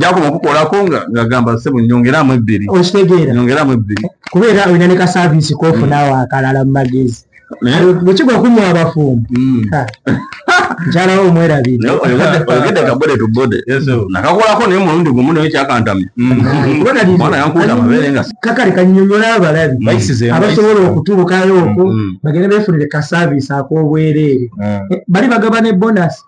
gyakoma okukolako nga ngagamba sebo nyongeramu ebbiri okitegeera nyongeramu ebbiri kubeera olina ne ka saavisi kofuna awo akalala mu magezi bwekigwa kunywa abafumbo mukyala wo omwerabireyogedde kabode to bode nakakolako naye mulundi gumu naye kyakantamya kakale kanyonyola abalabi abasobola okutubukayo okwo bagenda befunire ka saavisi ak'obwereere bali bagaba ne bonasi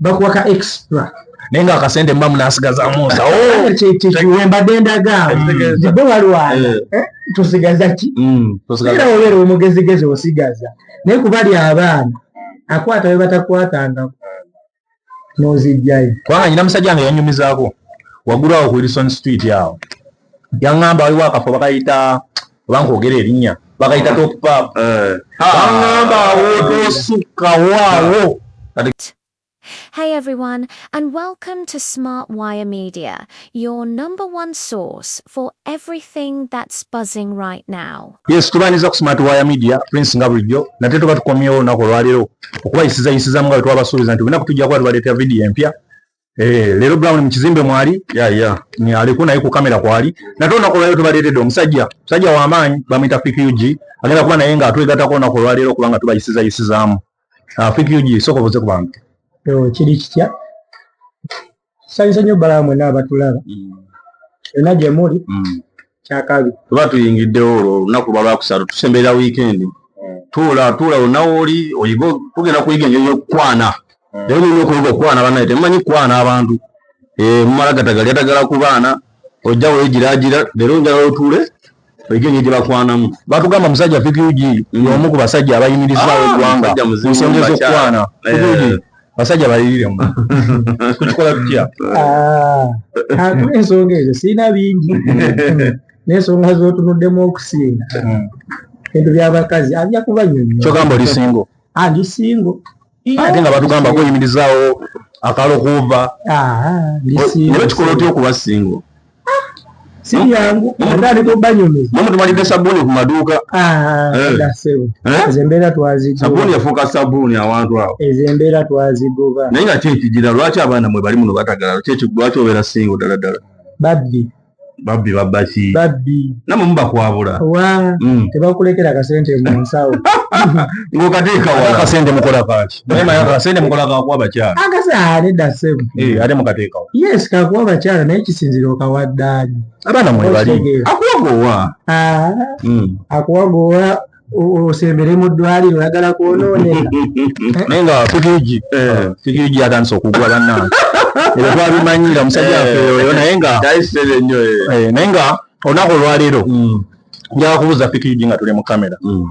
bakuwa ka extra naye nga akasente mba munasigazamu nsawombadde oh, ndagabe walwana eh. eh, tusigaza ki mm, era obeera omugezigezi osigaza naye kubali abaana akwata we batakwatangako nozijjayo kubanga nyina musajja nga yanyumizaako wagulawo ku wilson street awo yaŋŋamba waliwo akafo bakayita oba nkwogera erinnya bakayita top pap eh. baŋŋamba awootoosukkawo awo Hey everyone, and welcome to Smart Wire Media, your number one source for everything that's buzzing right now. Yes, tubaniza ku Smart Wire Media, Prince nga bulijjo, nate tuba tukomyewo olunaku olwaleero okubayisiza yisizamu nga bwe twabasuubiza nti olina kutujja kuba tubaleetera vidiyo empya Eh, lero brown mukizimbe mwali ya ya ni aliko naye ku kamera kwali natonda ko lero tubaletede omusajja musajja wa maanyi bamita PQG agenda kuba naye nga atwegata ko na ko lero kubanga tubayisiza yisizamu ah PQG soko boze ku bantu yo kiri kitya sanyiza nyo balamu na batulaba mm. enaje muri mm. kyakabi tuba tuyingiddewo olwo olunaku lwa lwakusatu tusemberera wiikendi hmm. tuula tuula onawooli oyiga tugenda kuyiga engeri yokukwana hmm. naye olina okuyiga okukwana banaye temumanyi kukwana abantu eh, mumala gatagali atagala ku baana ojja wegiragira leero njala otuule oyige engeri gyebakwanamu batugamba musajja fikugi yomu ku basajja abayimirizaawo ah, eggwanga ensonga ezokukwana fikugi basajja balirire mu kukikola tutya ah, kantu ensonga ezo sirina bingi n'ensonga z'otunuddemu okusinga hmm. ebintu by'abakazi abya kuba nyonyo kyogamba oli singo ah, ndi singo ate nga batugamba kweyimirizaawo akalokuuva ah, nebakikola otya okuba singo sibyangu atali kubanyumiza mama tumalidde sabuni ku maduuka ah, eh. eh? ezo embeera twazigobasabuni yafuuka sabuni awantu awo ezo embeera twazigoba naye nga kyekigira lwaki abaana mwe bali muno batagala lwaki obeera singo ddala ddala babbi babbi babbaki babbi namwe mubakwabula wa mm. tebakulekera akasente mu nsawo ng'okateekawa akasente mukola kaaki naye mayaka asende mukola kakuwa abakyala akasa ate dasemu eh, ate mukateekawo yes kakuwa abakyala naye kisinzira okawa ddaali abaana mwe bali akuwa goowa ah, hmm. akuwa goowa osembere mu ddwaliro oyagala kwonooneka naye nga fifiji eh. fifiji atandise okugwa bannange ebyo twabimanyira musajja eh. waffe oyo naye nga naye nga olunaku olwaleero hmm. njakubuuza fifiji nga tuli mu kamera hmm.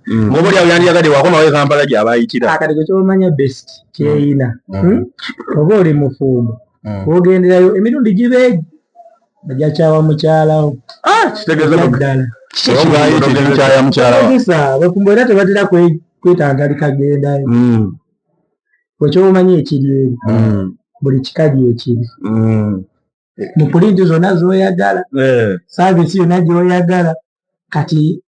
Mm. mubuli awo yandiyagadde wakomawo ekampala gyabayitira ah, kati kwekyomanya best kyeyina mm. hmm? mm. oba oli mufumbo wogenderayo emirundi gibeegi ajakyawa mukyalawo ah, kitegezaddala bafumbo era tebatera kwetangalika gendayo kwekyomanya ekiri eri buli kika lyekiri mu pulinti zonna zoyagala eh. saavisi yonna gyoyagala kati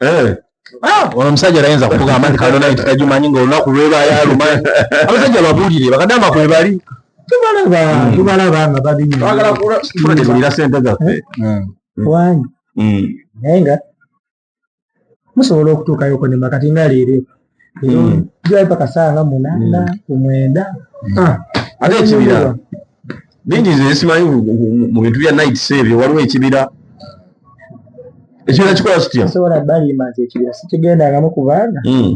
eh. ah, ono omusajja tayinza kukugamba nti kano naye tikagimanyi nga olunaku lweba yalumanyi abasajja babuulire bakadamba kwebali tubalaba hmm. tubalaba nga babiyira sente zaffe eh? hmm. wanyi hmm. naye nga musobola okutuukayoko nema kati nga leero jai paka saa nga munana mm. kumwenda ah, ate ekibira bingi nze simanyi mu bintu bya night save waliwo ekibira ekibira kikola kitya sobola balima nti ekibira sikigendangamu ku baana mm.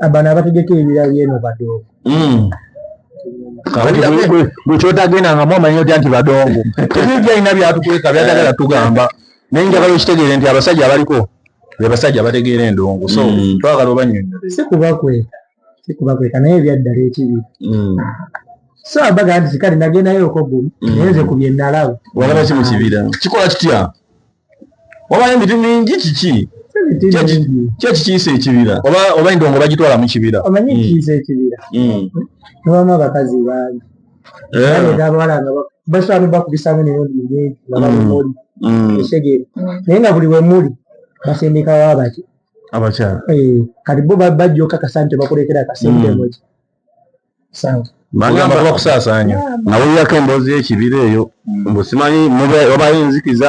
abana abategeka ebira byeno badoogo mm. bwekyotagendangamu amanyi otya nti badongo tebibyalina byatukweka byatagala tugamba naye njagala okitegeere nti abasajja abaliko be basajja abategeera endongo so mm. twagala obanyonyole si kubakweka si kubakweka naye ebyaddala ekibi mm. so abaga nti kale nagendayo okogumu mm. naye nze ku bye nalaba walaba ki mu kibira kikola kitya wabayo emiti mingi kiki kyekikiisa ekibira oba endongo bagitwala mu kibira omanyi ekiisa ekibira nobamu abakazi bangi abawala nga basobola nobakubisamu emirundi mingi nga balimuli ekitegeera naye nga buli wemuli basindikawo abaki abakyala eh, kati bo bajja okakasa nti tebakulekera akasente mm. moki sente bagamba bakusaasaanya nawulirako emboozi y'ekibira eyo mbu simanyi oba yinzikiza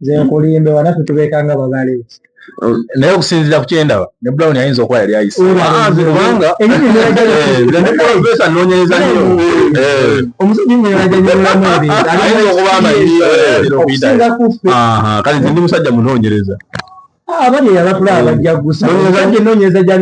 nze nkulimbe wana tutubeekanga babale oh, naye okusinzira ku kyendaba ne brown ayinza okuba yali ayiseobangaesa nonyereza nyo omusajjaayinza okuba amayinza kale nze ndi musajja munonyereza ah, abali eyabakula abajja gusa nonyereza gya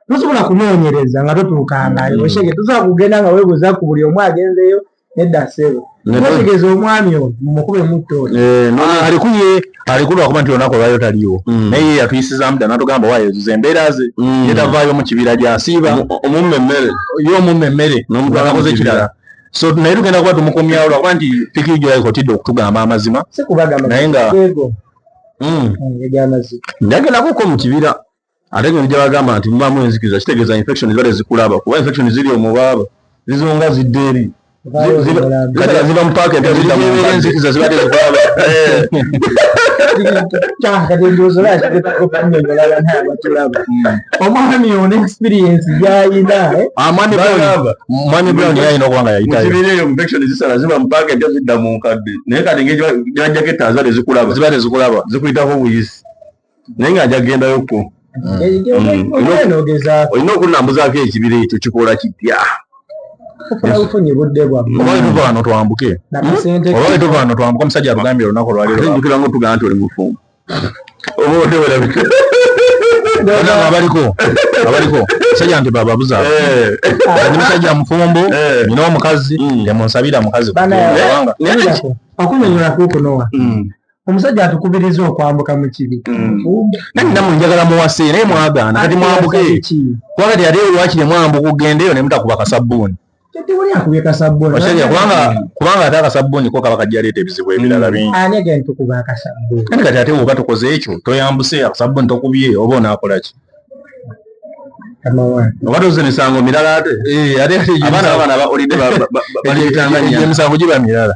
tosobola kunonyereza nga totuukangayo mm. oshege tosobola kugenda nga webuza ku buli omu agenzeyo nedda sebo nategeza omwami oyo mumukube mutto eh, ah, alikuye alikulu akuba nti olunaku olwayo taliwo mm. naye ye yatuyisizamu dda natugamba wayezuza embeera ze mm. yetavaayo mu kibira gyasiiba omumma emmere ye omumma emmere nomutuakoze ekirala so naye tugenda kuba tumukomyawo lwakuba nti piki gyo yayikotidde okutugamba amazima naye nga mm. ndagenda kuko mu kibira ate ngeri gyebagamba nti mubamu enzikiza kitegeeza infection zibale zikulaba kuba infection ziri omubaaba zizonga zidda eri kati aziba mupaaka empya zidda mu enzikiza zibadde zikulaba omwami ono experience gyayina eh? ah, mwami brown yayina okuba nga yayitayokibireeyo infection zisala ziba mupaaka empya zidda mu nkadde naye kati ngeri gyajjako ettaazibadde zikulaba zibadde zikulaba zikuyitako obuyisi naye nga nja kugendayoko mm. olina okunambuzaako ekibira ekyo kikola kitya obaetuvaano twambuke obaetuvaano twambuke omusajja atugambye olunaku olwalirojukira nga otugamba nti oli mufumbo oba otewerabika abaliko abaliko sajja nti bababuza eh. ndi musajja mufumbo eh. nina omukazi temunsabira mm. mukazi okunyonyola kukunowa mm. omusajja atukubiriza okwambuka mu kibi mm. nange namwe njagala muwase naye mwagaana kati mwambuke kuba kati ate wakiri mwambuka ogendeyo ne mutakuba kasabbuuni kubanga ate akasabbuuni ko kaba kajja leeta ebizibu ebirala mm. bingi kati ate woba tukoze ekyo toyambuse akasabbuuni tokubye oba onaakolaki oba toze misango mirala ate eh, abaana babaana baolidde emisango giba mirala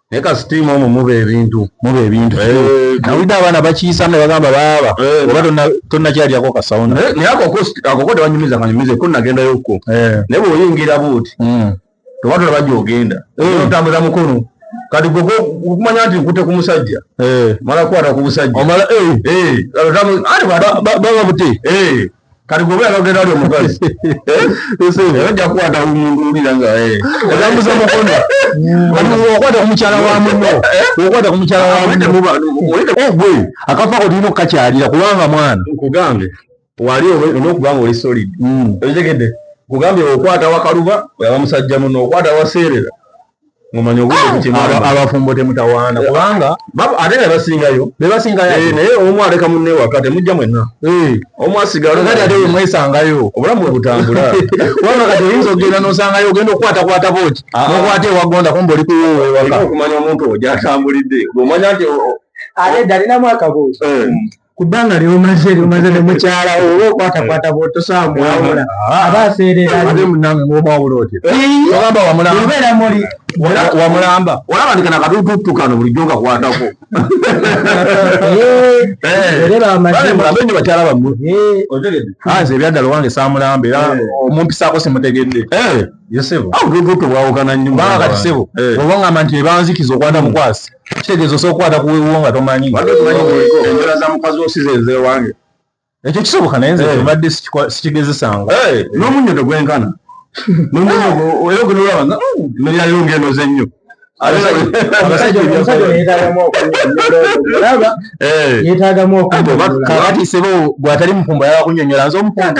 naye kasitiimu omu muba ebintu muba ebintu eh, nawulidde abaana bakiyisa ne bagamba baaba eh, oba tonnakyalyako kasawuna naye akoko tewanyumiza kanyumize ko nagendayo ko eh. naye bweoyingira buuti hmm. tewatula bajja ogenda otambuza mukono kati gwe okumanya nti nkute ku musajja mala kwata ku busajja baba buti kati gwe bweyala ogenda ali omukazi eh? ojja kukwata omuntu owulira nga eh. otambuza mukono okwata ku mukyala wa muno eh? okwata ku mukyala wa munogwe akafa ko tulina okukakyalira kubanga mwana nkugambe wali olwokuba nga oli solid hmm. okitegedde nkugambye okwata wakaluba oyaba musajja muno okwata waseerera ngomanya obuddeabafumbo temutawaana eh, kubanga ate nga basingayo bebasingayo eh, naye omu aleka munne waka temujja mwenna eh. omu asigalokati ate wemwesangayo obulamu webutambula kubanga kati oyinza okugenda nosangayo ogenda okukwatakwata boki ah, ah. nokwata ewagonda kumba oli kuwoowewaka okumanya omuntu ojo atambulidde omanya nti ate dalinamu akabuuzo ku bbanga lyomaze lyomaze ne mukyala oba okwatakwata bwotosaawa mwawula ah. aba aseereraobeera muli wamulamba olaba ndi kana katututtu kano bulijjo nkakwatako mulabe nyo bakyala bammwe nze ebyadala owange saamulamba era omumpisaako simutegedde tewawukana nyumba kati sebo eh. oba ngamba nti ebanzikiza okwata hmm. mukwasi kitegeeza osobola okukwata ku wewuwo nga tomanyi enjala za mukazi osiza ezewange ekyo kisoboka naye nze eh. mbadde sikigezesanga eh, n'omunnyo tegwenkana era ogenolaba nga mmere yaliwo hmm, ng'enoze nnyo yetagamu okunyonyola nze omupumbo yaba kunyonyola nze omupumbo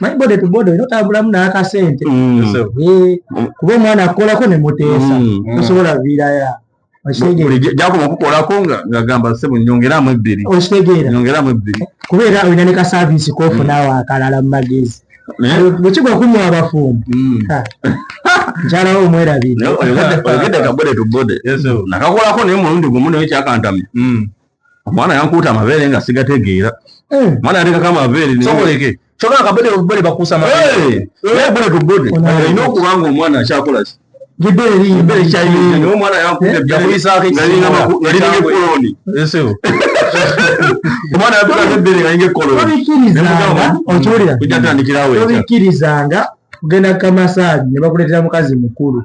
manyi bode to bode oyina otambulamu n'akasente mm. eh, kuba omwana akukolako ne muteesa mm. tosobola viiraya gyakoma okukolako nga ngagamba sebo nyongeramu ebbiri okitegeera nyongeramu ebbiri kubeera olina ne ka saavisi kofunawo mm. akalala mu magezi bwekigwa okunywa abafumbo nkyalawo omwerabire oyogedde kabode to bode nakakolako naye mulundi gumu naye kyakantamya omwana yankuuta amabeere nga sigategeera eh. omwana yatekako amabeere noleke kyona akabede obubede bakuusa amabeere bede ku bode olina okuba nga omwana akyakola ki omwana yankuuteyakuyisaakokironi omwana yakulako ebbere nga yinga ekkolonikirizanga kugenda kukamasaagi ne bakuleetera mukazi mukulu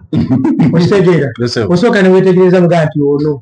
okitegeera osooka ne weetegereza mugaa nti ono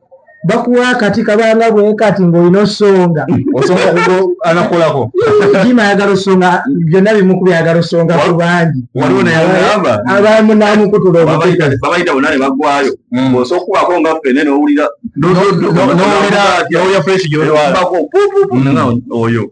bakuwa akati kabanga bwekati ngaolina osonga anakolako jima ayagala osonga byonna bimu ku byayagala osonga ku bangi abamu namukutula omubabaita bonna ne bagwayo hmm. osa okukubako nga fene nowulira nowulira fresh gyolwala hmm. oyo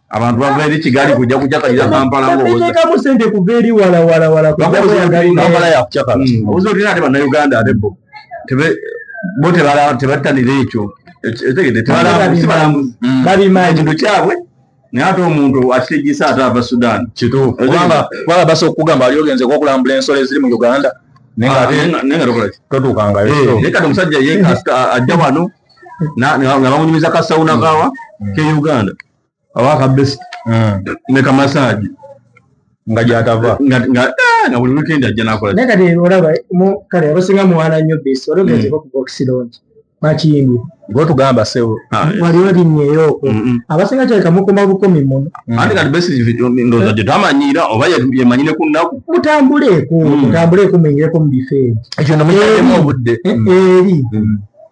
abantu bava eri kigali kujja kucakalira kampala ngoteekamu sente kuva eri walawalawalakampala yakucakala hmm. obuzi otulina ate bannayuganda ate bo bo tebatanira ekyo etegede tebalambuzi babimanyi kintu kyabwe naye ate omuntu akitegisa ate ava sudan kituufu kubanga kubanga basa okugamba ali ogenze okulambula ensolo eziri mu uganda nenga ah, totuukangayo eh, naye kati omusajja ye ajja wano nga bamunyumiza ka sauna kawa mm. ke uganda awa ka best mm. ne ka massage nga gyatava nga nga eh, buli weekend ajja nakola naye kati olaba kale abasinga muwaana nnyo best wali ogenze mm. ku box lounge bakiyimbi gwetugamba sebo ah, wali olinyeyooko abasinga kyaleka mukoma bukomi muno ate kati best ndoza gyetamanyiira oba yemanyire ku nnaku mutambuleeko mutambuleeko muyingireko mu bifo ebyo ekyo nomuyaemu obudde eh, eri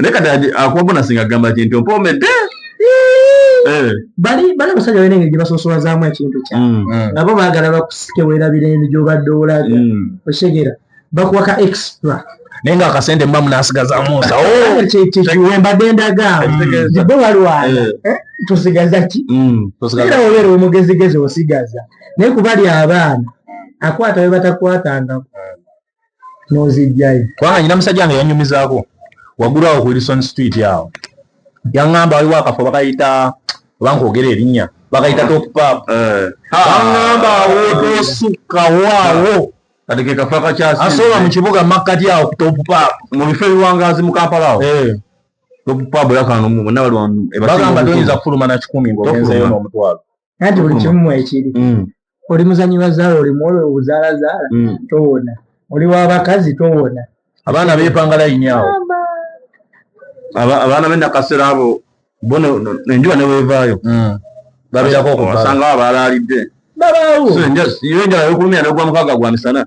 naye kati akuwabona singa agamba kinti ompoomedde eh. bali bali abasajja balina engeri gye basosolazaamu ekintu kya mm. mm. nabo baagala bakusike weerabira endi gy'obadde olaga mm. okitegeera bakuwa ka extra naye nga akasente mba munasigazamusa oh! kyembadde ndagabe walwana eh. eh, tusigaza ki era obeera omugezigezi osigaza naye kubali abaana akwata we batakwatangako nozijjayo kubanga nyina musajja nga yanyumizaako wagulu awo ku wilson street awo yaŋŋamba waliwo akafo bakayita oba nkwogera erinnya bakayita topap eh. aŋŋamba awo tosukkawo awo kati ke kafa kakyasi asobola mu kibuga makkati awo ku topap mu bifo ebiwangaazi mu kampala awo eh. topap yakano mu bonna baliwa bagamba toyinza kufuluma na kikumi ng'ogenzeyo n'omutwalo nanti buli kimu mwekiri mm. oli muzanyi wazaala oli muwolo obuzaalazaala mm. towona oli wabakazi towona abaana bepanga layini awo abaana benakasera abo bo enjuba newevaayo mm. babeerako okubasangawo abaalaalidde babaawo enjala yokulumya nogwa mukaaga gwa misana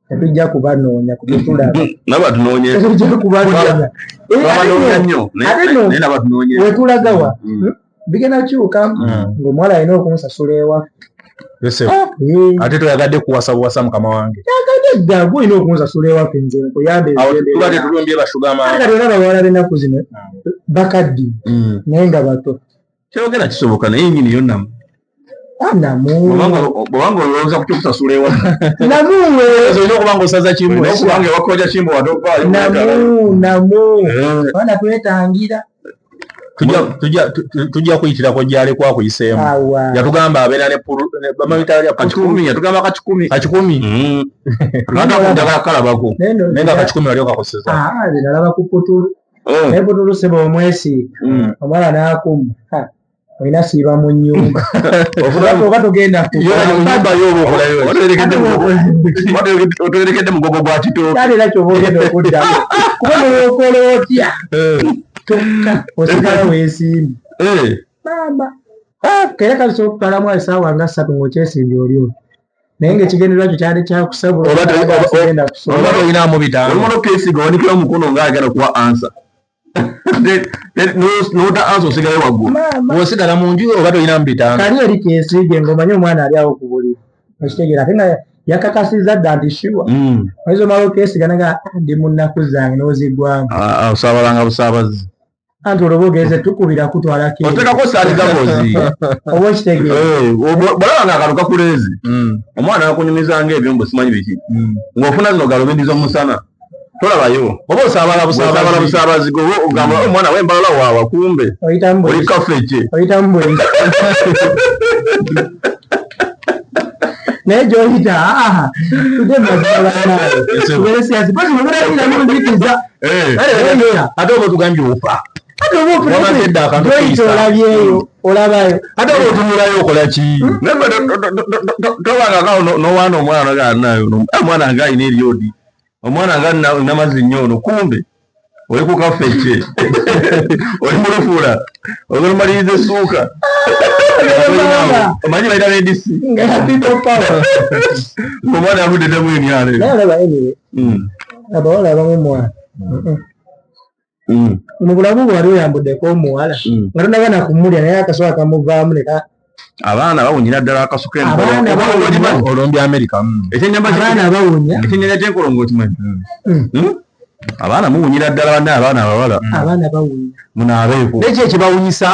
tetujja kubanoonya kubyetulabtetujja kubanoonya wetulagawa bigenda kyuka ngaomuwala alina okunsasula ewaffe Ah, mm. ate toyagadde kuwasa buwasa mukama wange yagaddeddaga olina okunzasula ewaffe nze nkuyambetubatetulumbye bashugamaaera bawala benaku zino mm. bakaddi mm. naye nga bato kyogera kisoboka naye nyini yo namu bwobanga olowooza ku kyokusasula ewa namuwe olina okuba nga osaza kimu okubanga ewakoja kimu wadoganamu namu bana twetangira tujja kuyitirako gyalekw akuyiseemu yatugamba abeera netugamba kakikumi kakikumi mm. kalabako naye nga kakikumi wali okakozesa ah, mm. naye butuluse bwomwesiiga mm. omwana nakumu olina siiba mu nyumba oba tugenda otwerekedde mugogo gwa kitooka era kyoba ogenda okuddamu kuba nowokola otya eh. kyokka osigala wesimbi eh. maama ah, kera kalisobola okutwalamu esaawa nga ssatu ngaokyesimbye oli oyo naye nga ekigendererwa kyo kyali kyakusabulaolinamu bitambo kesiga wanikira omukono nga agenda kuwa ansa nota ansa osigale waggulu osigala mu nju oba tolinamu bitambo kali eri kesiige ngaomanye omwana ali awo ku buli okitegeera ate nga yakakasiza dda nti shuwa hmm. oyinza omala okesiga naga ah, ndi mu nnaku zange n'ozigwamu ah, ah, osabalanga busaabazi anti olwo bogeze tukubira kutwala otekako sali gabozi oba okitegeeraolaba nga akalo kakuleezi mm. omwana akunyumiza nga ebyo mbu simanyi biki mm. ng'ofuna zino galubindi z'omusana tolabayo oba osaabala busaabala busaabazi goba ogamba mm. omwana wembala waawa kumbe oli kafeke naye gyoyita tudemazialanayo Eh. ate oba otugambye ofa ate oba otunaaoyita olabyeyo olabayo ate oba otunulayo okola ki tobangakao nowaana omwana ganayo eh, omwana nga alina eryodi omwana nga namazi nnyo ono kumbe oli ku kafece oli mulufula ogolomaliriza essuuka omanyi balina nedisi omwana avudde temu emyalo abawala abamu mwana mm. mu bulamu bwali oyambudeko omuwala mm. nga tonaba nakumulya naye akasoka akamuvaamu neka abaana bawunyira ddala akasuka olombi amerika mm. ekyenyambaana bawunya ekyenyanya kyenkolongo okimanyi hmm? abaana muwunyira ddala banne abaana abawala abaana bawunya munaabeeko nekyo ekibawunyisa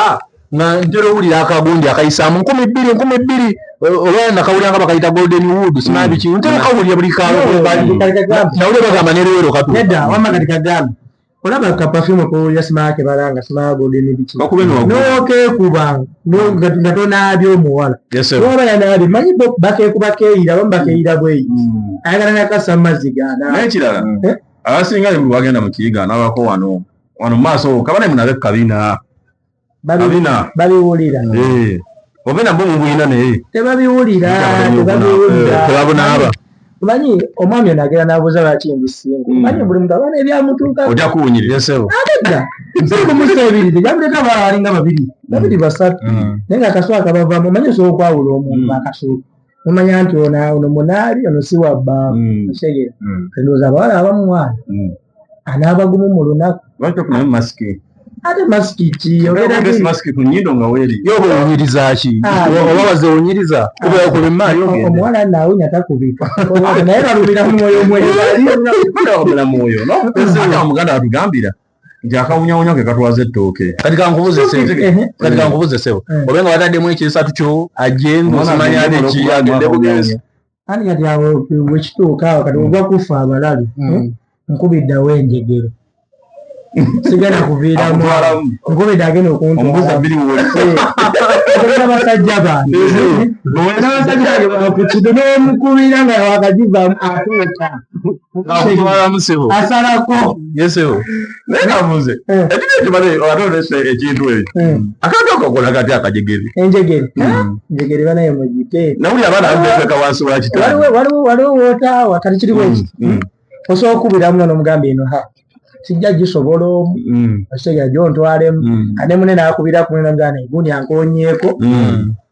nga ntera owulira akagundi akayisaamu nkumi bbiri nkumi bbiri olwala nakawulira nga bakayita golden wood sinabiki mm. ntera kawulira buli kanawulira bagamba nerwero katukagambe olaba ka perfume ko yasima ke balanga sima golden biki bakube no no ke kuba no nga to nabi omuwala no bala nabi manyi bo bake kuba ke ira bamba ke ira bwe mm. ayagala na kasama zigana naye kirala eh? abasinga bagenda mu kiyiga nabako wano wano maaso kabane munabe kabina babiwulira eh. obe nabwo mubuyina naye tebabiwulira tebabunaaba eh, omanyi omwami ono agenda nabuuza lwaki mbisinga hmm. omanyi buli muntu abaana ebyamutuuka oja kuwunyirireseo abedda nsikumuse ebiri tejabuleta balinga babiri babiri hmm. basatu hmm. naye nga akasuwa kabavamu omanyi osobola okwawula omuntu akasuwa nomanya nti ono munaali ono si wabba mm. kitegera mm. ndowooza abawala abamu mwana mm. anaabagumu mu lunaku ate masiki kiyogeraobunyirizaaki ah, oba bazewunyiriza ah, kubeera ku bimaayo omuwala naawunya takubika naye balumira mwoyo mwoyo mulamu oyo nomukazi omuganda watugambira nti akawunyawunya ke katwaza ettooke kati kankubuze kati kankubuze sebo mm. obe nga bataddemu ekyesatu kyo ajenga osimanya ate ki agende bugenzi ani kati awo wekituuka awo kati ogwa kufa abalalu mm. eh? nkubiddawo enjegero sigala kuviiramu nkubidde agenda okuntuabasajja banabasajja bange bakukido nomukubira nga wakagivaamu atuuka asalako yesewo naye nabuuze ekiri ekyo bale ate olese ekintu ekyo akantu akakola kati akajegere enjegere enjegere bana yo mugite nawuli abaana abeka wansi wa kitanda waliwo waliwo wotaawa kati kiri bweki osobola okubiramu nono omugamba eno ha sijja gisobola omu okitegera gyontwalemu ane mune nakubira kumwe namugana eguni ankonyeeko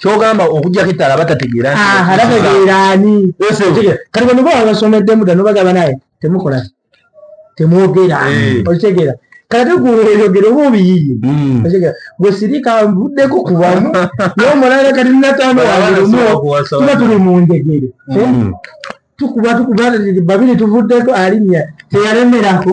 kyogamba okujjako ettala abatategeera abategeeraani kati bano baba basomeddemu dda nobagamba naye temukola temwogera eh. okitegeera kati guyogera oba obiyiye hmm. okitegeera gwe sirika nvuddeko kubamu naye omulanga kati nataano wange lumu tuba tuli mu njegere hmm. eh? tukuba tukuba babiri tuvuddeko alinnya teyalemerako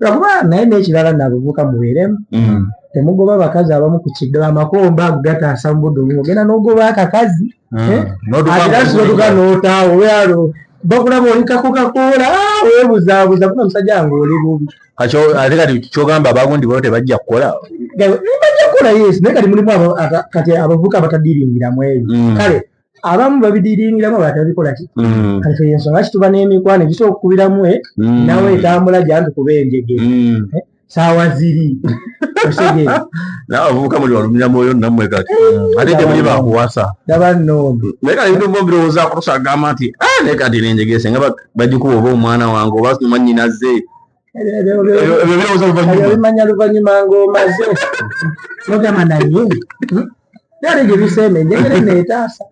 lwakuba naye nekirala nabuvuka mubeeremu mm. temugoba abakazi abamu ku kigga amakomba ago gataasa mu budde obumu ogenda n'ogoba akakazi mm. eh? atirasotuka n'otaawo weyalo bakulaba oli kakokakoola ah, webuzabuza kuna musajja wange oli bubi ate kati kyogamba abagundi bo tebajja kukola bajja kukola yesu naye kati mulimu kati abavuka abatadiringiramu ebyo mm. kale abamu babidiringiramu abalala tebabikola ki mm. kati eyo ensonga lwaki tuba n'emikwano egisobola okukubiramu e mm. nawe etambula gyanti kuba enjege mm. eh, saawa ziri osegeera nawe abavubuka muli walumira mwoyo namwe kati eh, ate temuli bakuwasa daba nondo naye kati ebintu byo birowoozaako tusagamba nti ah, naye kati nenjegese nga bagikuba oba omwana wange oba manyinaze ebimanya luvanyuma ngaomaze nogamba naye byali gye bisembe njegere neetaasa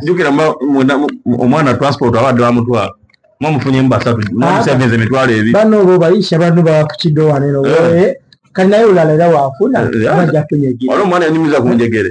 jukira omwana transport abadde bamutwala mwamufunyemu basatu mwamusevenza emitwalo ebi bano bo bayisha bano bakukido wane no kali naye olala era wafuna amaja kunyegera waliwo omwana yanyumiza ku njegere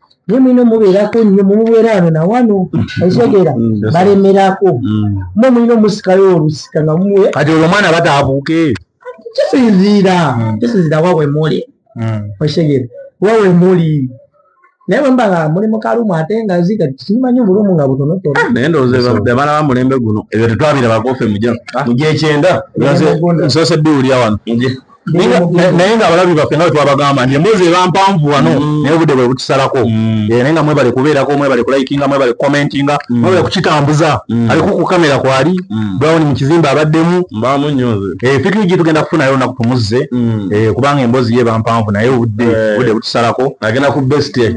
naye mulina omubeerako nnyo mumubeera wano na wano ekitegeera mm, mm, balemerako mm. mwe mulina omusikayo olusika nga muwe kati olwo omwana bataabuuke kisinziira kisinziira wawe muli ekitegeera wawe muli naye bwemba nga muli mukalumu ate nga ziga simanyi obulumu nga butonotono ah, naye ndowooza abaana ba mulembe guno ebyo tetwabirabakoofe muja ah. muja ekyenda nsoose biwulira wano naye nga abalabi baffe nga wetwabagamba nti emboozi eba mpanvu wano mm. naye obudde bwe butusalako mm. eh, naye nga mwebale kubeerako mwebale kulaikinga mwebale kukomentinga mm. mwebale kukitambuza aliko ku kamera kwali brown mu kizimbe abaddemu eh, fikiri gye tugenda kufunayo olunaku tumuzze eh, kubanga emboozi ye eba mpanvu naye obudde butusalako agenda ku best